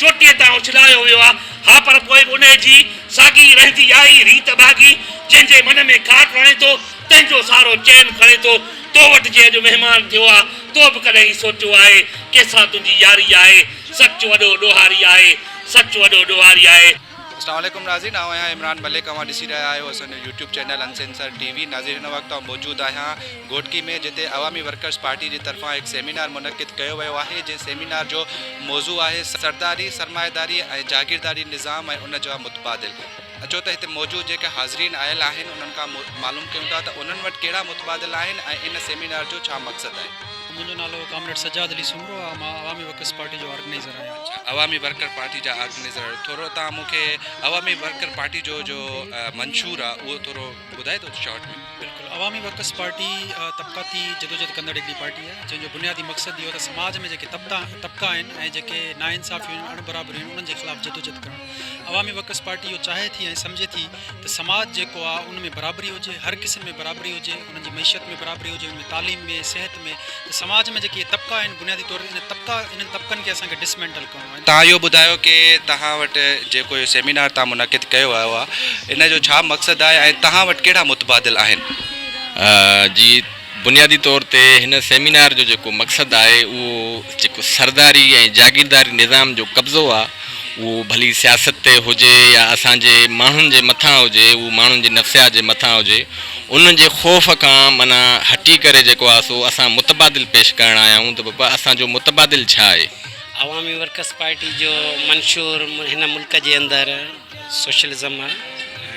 چوٽيء تان اڇلايو ويو آ، ها پر پوء به انهيء جي ساڳي رهندي آئي ريت ڀاڳي، جنهن جي من ۾ ڪاٺ رڻي ٿو، تنهن جو سهارو چين کڻي ٿو، تو وٽ جي اڄ مهمان ٿيو آ، تو به ڪڏهن هي سوچيو آهي، ڪنهن سان تنهنجي ياري آهي، سچ وڏو ڏوهاري آهي، سچ وڏو ڏوهاري آهي. اسلام عليڪم ناظرين آئون آهيان عمران ملڪ اوهان ڏسي رهيا آهيو اسان جو يوٽيوب چينل انسينسر ٽي وي ناظرين هن وقت آئون موجود آهيان گهوٽڪي ۾ جتي عوامي ورڪرز پارٽي جي طرفان هڪ سيمينار منعقد ڪيو ويو آهي جنهن سيمينار جو موضوع آهي سرداري سرمائيداري ۽ جاگيرداري نظام ۽ ان جا متبادل اچو ته هتي موجود جيڪي حاضرين آيل آهن انهن کان معلوم ڪيون ٿا ته انهن وٽ ڪهڙا متبادل آهن ۽ ان سيمينار جو ڇا مقصد آهي. منهنجو نالو ڪامريڊ سجاد علي سومرو آهي مان عوامي ورڪرز پارٽي جو آرگنائيزر آهيان. عوامي ورڪر پارٽي جا آرگنيزر ٿورو تان مون کي عوامي ورڪر پارٽي جو جو منشور آ اهو ٿورو ٻڌائي ٿو شارٽ ۾ بلڪل عوامي ورڪرس پارٽي طبقاتي جدوجهد ڪندڙ هڪڙي پارٽي آ جنهن جو بنيادي مقصد اهو ته سماج ۾ جيڪي طبقا طبقا آهن ۽ جيڪي ناانصافيون اڻ برابريون انهن جي خلاف جدوجهد ڪرڻ عوامي ورڪرس پارٽي اهو چاهي ٿي ۽ سمجهي ٿي ته سماج جيڪو آ ان ۾ برابري هجي هر قسم ۾ برابري هجي انهن جي معيشت ۾ برابري هجي ان ۾ تعليم ۾ صحت ۾ ته سماج ۾ جيڪي هي طبقا آهن بنيادي طور انهن طبقا انهن طبقن کي اسان کي ڊسمينٽل ڪرڻو آهن. تهان اهو ٻڌايو ڪي تهان وٽ جيڪو اهو سيمينار تهان منعقد ڪيو ويو آهي ان جو ڇا مقصد آهي ۽ تهان وٽ ڪهڙا متبادل آهن؟ جي. بنيادي طور تي هن سيمينار جو جيڪو مقصد آهي اهو جيڪو سرداري ۽ جاگيرداري نظام جو قبضو آهي اهو ڀلي سياست تي هجي يا اسان جي ماڻهن جي مٿان هجي اهو ماڻهن جي نفسيات جي مٿان هجي انهن جي خوف کان معنيٰ هٽي ڪري جيڪو آهي سو اسان متبادل پيش ڪرڻ آيا آهيون ته بابا اسان جو متبادل ڇا آهي؟ عوامي ورڪرس پارٽي جو منشور هن ملڪ جي اندر سوشلزم آهي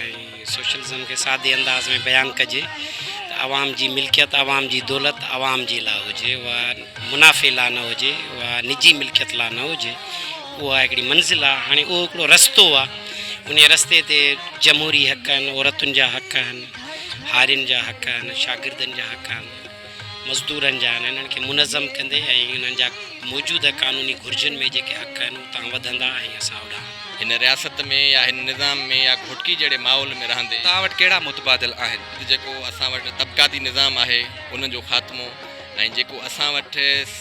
۽. سوشلزم کي سادي انداز ۾ بيان ڪجي ته عوام جي ملڪيت عوام جي دولت عوام جي لا هجي اها منافعي لا نه هجي اها نجي ملڪيت لا نه هجي اها هڪڙي منزل آهي هاڻي اهو هڪڙو رستو آهي انهي رستي تي جمهوري حق آهن عورتن جا حق آهن هارين جا حق آهن شاگردن جا حق آهن. مزدورن جا آهن انهن کي منظم ڪندي ۽ انهن جا موجوده قانوني گهرجن ۾ جيڪي حق آهن اتان وڌندا ۽ اسان اوڏانهن. هن رياست ۾ يا هن نظام ۾ يا گهوٽڪي جهڙي ماحول ۾ رهندي. توهان وٽ ڪهڙا متبادل آهن؟ جيڪو اسان وٽ طبقاتي نظام آهي ان جو خاتمو ۽ جيڪو اسان وٽ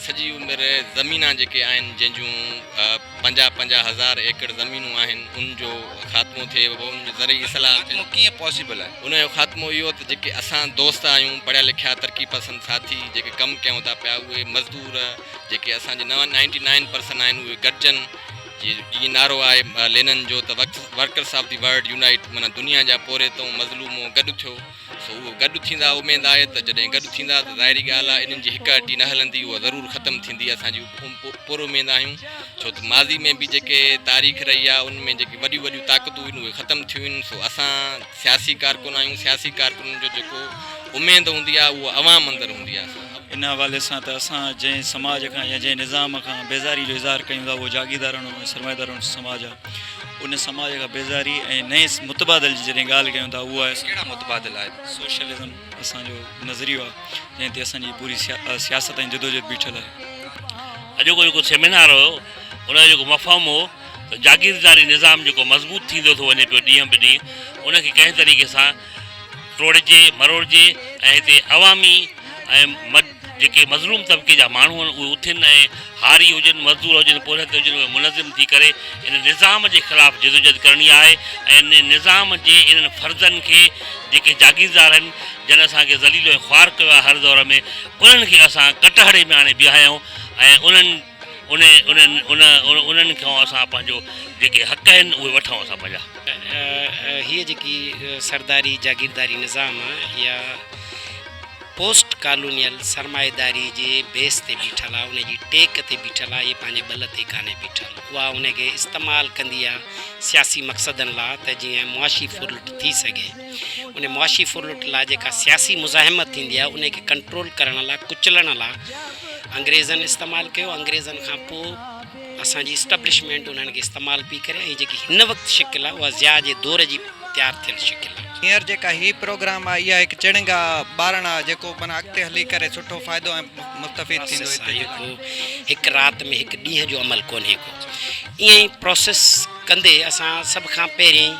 سڄي عمر زمينا جيڪي آهن جنهن جون. پنجاهه پنجاهه هزار ايڪڙ زمينون آهن ان جو خاتمو ٿئي بابا ان جو زرعي اصلاح ٿين. خاتمو ڪيئن پاسيبل آهي؟ ان جو خاتمو اهو ته جيڪي اسان دوست آهيون پڙهيا لکيا ترقي پسند ساٿي جيڪي ڪم ڪيون ٿا پيا اهي مزدور جيڪي اسان جي نائنٽي نائن پرسن آهن اهي گڏجن جيئن نعرو آهي لينن جو ته workers of the world unite معنيٰ دنيا جا پورهيتون مظلومون گڏ ٿيو سو اهو گڏ ٿيندا، اميد آهي ته جڏهن گڏ ٿيندا ته ظاهري ڳالهه آهي انهن جي هڪ هٽي نه هلندي، اها ضرور ختم ٿيندي، اسان جي پر اميد آهيون، ڇو ته ماضي ۾ به جيڪي تاريخ رهي آهي ان ۾ جيڪي وڏيون وڏيون طاقتون هيون اهي ختم ٿيون آهن، سو اسان سياسي ڪارڪن آهيون، سياسي ڪارڪنن جو جيڪو اميد هوندي آهي اها عوام اندر هوندي آهي، سو. ان حوالي سان ته اسان جنهن سماج کان يا جنهن نظام کان بيزاري جو اظهار ڪيون ٿا اهو جاگيردارڻو ۽ سرمائيدارڻو سماج آهي، ان سماج کان بيزاري ۽ نئين متبادل جي جڏهن ڳالهه ڪيون ٿا اهو آهي اسان ڪهڙا متبادل آهي سوشلزم اسان جو نظريو آهي جنهن تي اسان جي پوري سياست ۽ جدوجهد بيٺل آهي اڄوڪو جيڪو سيمينار هيو ان جو جيڪو مفهوم هو ته جاگيرداري نظام جيڪو مضبوط ٿيندو ٿو وڃي پيو ڏينهن به ڏينهن ان کي ڪنهن طريقي سان ٽوڙجي مروڙجي ۽ هتي عوامي ۽ جيڪي مظلوم طبقي جا ماڻهو آهن اهي اٿين ۽ هاري هجن، مزدور هجن، پورهيت هجن اهي منظم ٿي ڪري ان نظام جي خلاف جدوجهد ڪرڻي آهي ۽ ان نظام جي انهن فرضن کي جيڪي جاگيردار آهن جن اسان کي ذليل ۽ خوار ڪيو آهي هر دور ۾ انهن کي اسان ڪٽهڙي ۾ آڻي بيهايون ۽ انهن انهن انهن کان اسان پنهنجو جيڪي حق آهن اهي وٺون اسان پنهنجا. هيء جيڪي سرداري جاگيرداري نظام يا. پوسٽ ڪالونيل سرمائيداري جي بيس تي بيٺل آ، ان جي ٽيڪ تي بيٺل آ، هي پنهنجي ٻل تي ڪانهي بيٺل، اها ان کي استعمال ڪندي آ سياسي مقصدن لا ته جيئن معاشي ڦرلٽ ٿي سگهي. ان معاشي ڦرلٽ لا جيڪا سياسي مزاحمت ٿيندي آ، ان کي ڪنٽرول ڪرڻ لا، ڪچلڻ لا انگريزن استعمال ڪيو، انگريزن کان پوء. اسان جي اسٽبلشمينٽ انهن کي استعمال پئي ڪري ۽ جيڪي هن وقت شڪل آهي اها ضياء جي دور جي تيار ٿيل شڪل آهي. هينئر جيڪا هي پروگرام آهي اها هڪ چڻنگ آهي، ٻارڻ آهي جيڪو معنيٰ اڳتي هلي ڪري سٺو فائدو ۽ مستفيد ٿيندو. پراسيس آهي ڪو هڪ رات ۾ هڪ ڏينهن جو عمل ڪونهي ڪو. ائين ئي پراسيس ڪندي اسان سڀ کان پهرين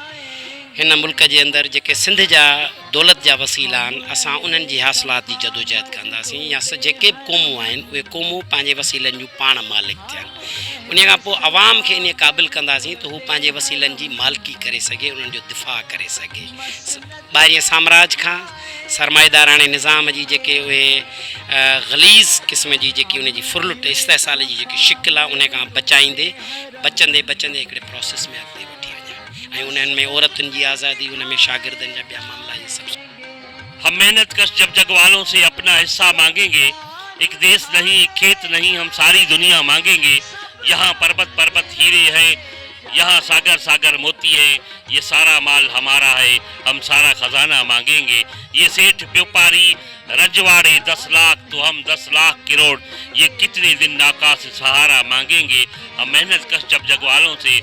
هن ملڪ جي اندر جيڪي سنڌ جا دولت جا وسيلا آهن، اسان انهن جي حاصلات جي جدوجهد ڪنداسين يا سه جيڪي به قومون آهن، اهي قومون پنهنجي وسيلن جون پاڻ مالڪ ٿين. انهيء کان پوء عوام کي انهيء قابل ڪنداسين ته هو پنهنجي وسيلن جي مالڪي ڪري سگهي، انهن جو دفاع ڪري سگهي. ٻاهرئين سامراج کان، سرمائيداراڻي نظام جي جيڪي اهي غليظ قسم جي جيڪي ان جي ڦرلٽ، استحصال جي جيڪي شڪل آهي، انهيء کان بچائيندي، بچندي بچندي هڪڙي پراسيس ۾ اڳتي وٺي وڃڻ. ۽ انهن ۾ عورتن جي آزادي ان ۾ شاگردن جا ٻيا معاملا ائين سڀ شامل آهن. هم محنت ڪش جب جڳ والون سي اپنا حصا مانگين گي ايڪ ديس نهين ايڪ کيت نهين هم ساري دنيا مانگين گي يهان پربت پربت هيري هين يهان ساگر ساگر موتي هين يه سارا مال همارا هي هم سارا خزانا مانگين گي يه سيٺ بيوپاري رجواڙي دس لاک تو هم دس لاک ڪروڙ يه ڪتني دن ناقاص سهارا مانگين گي هم محنت ڪش جب جڳ والون سي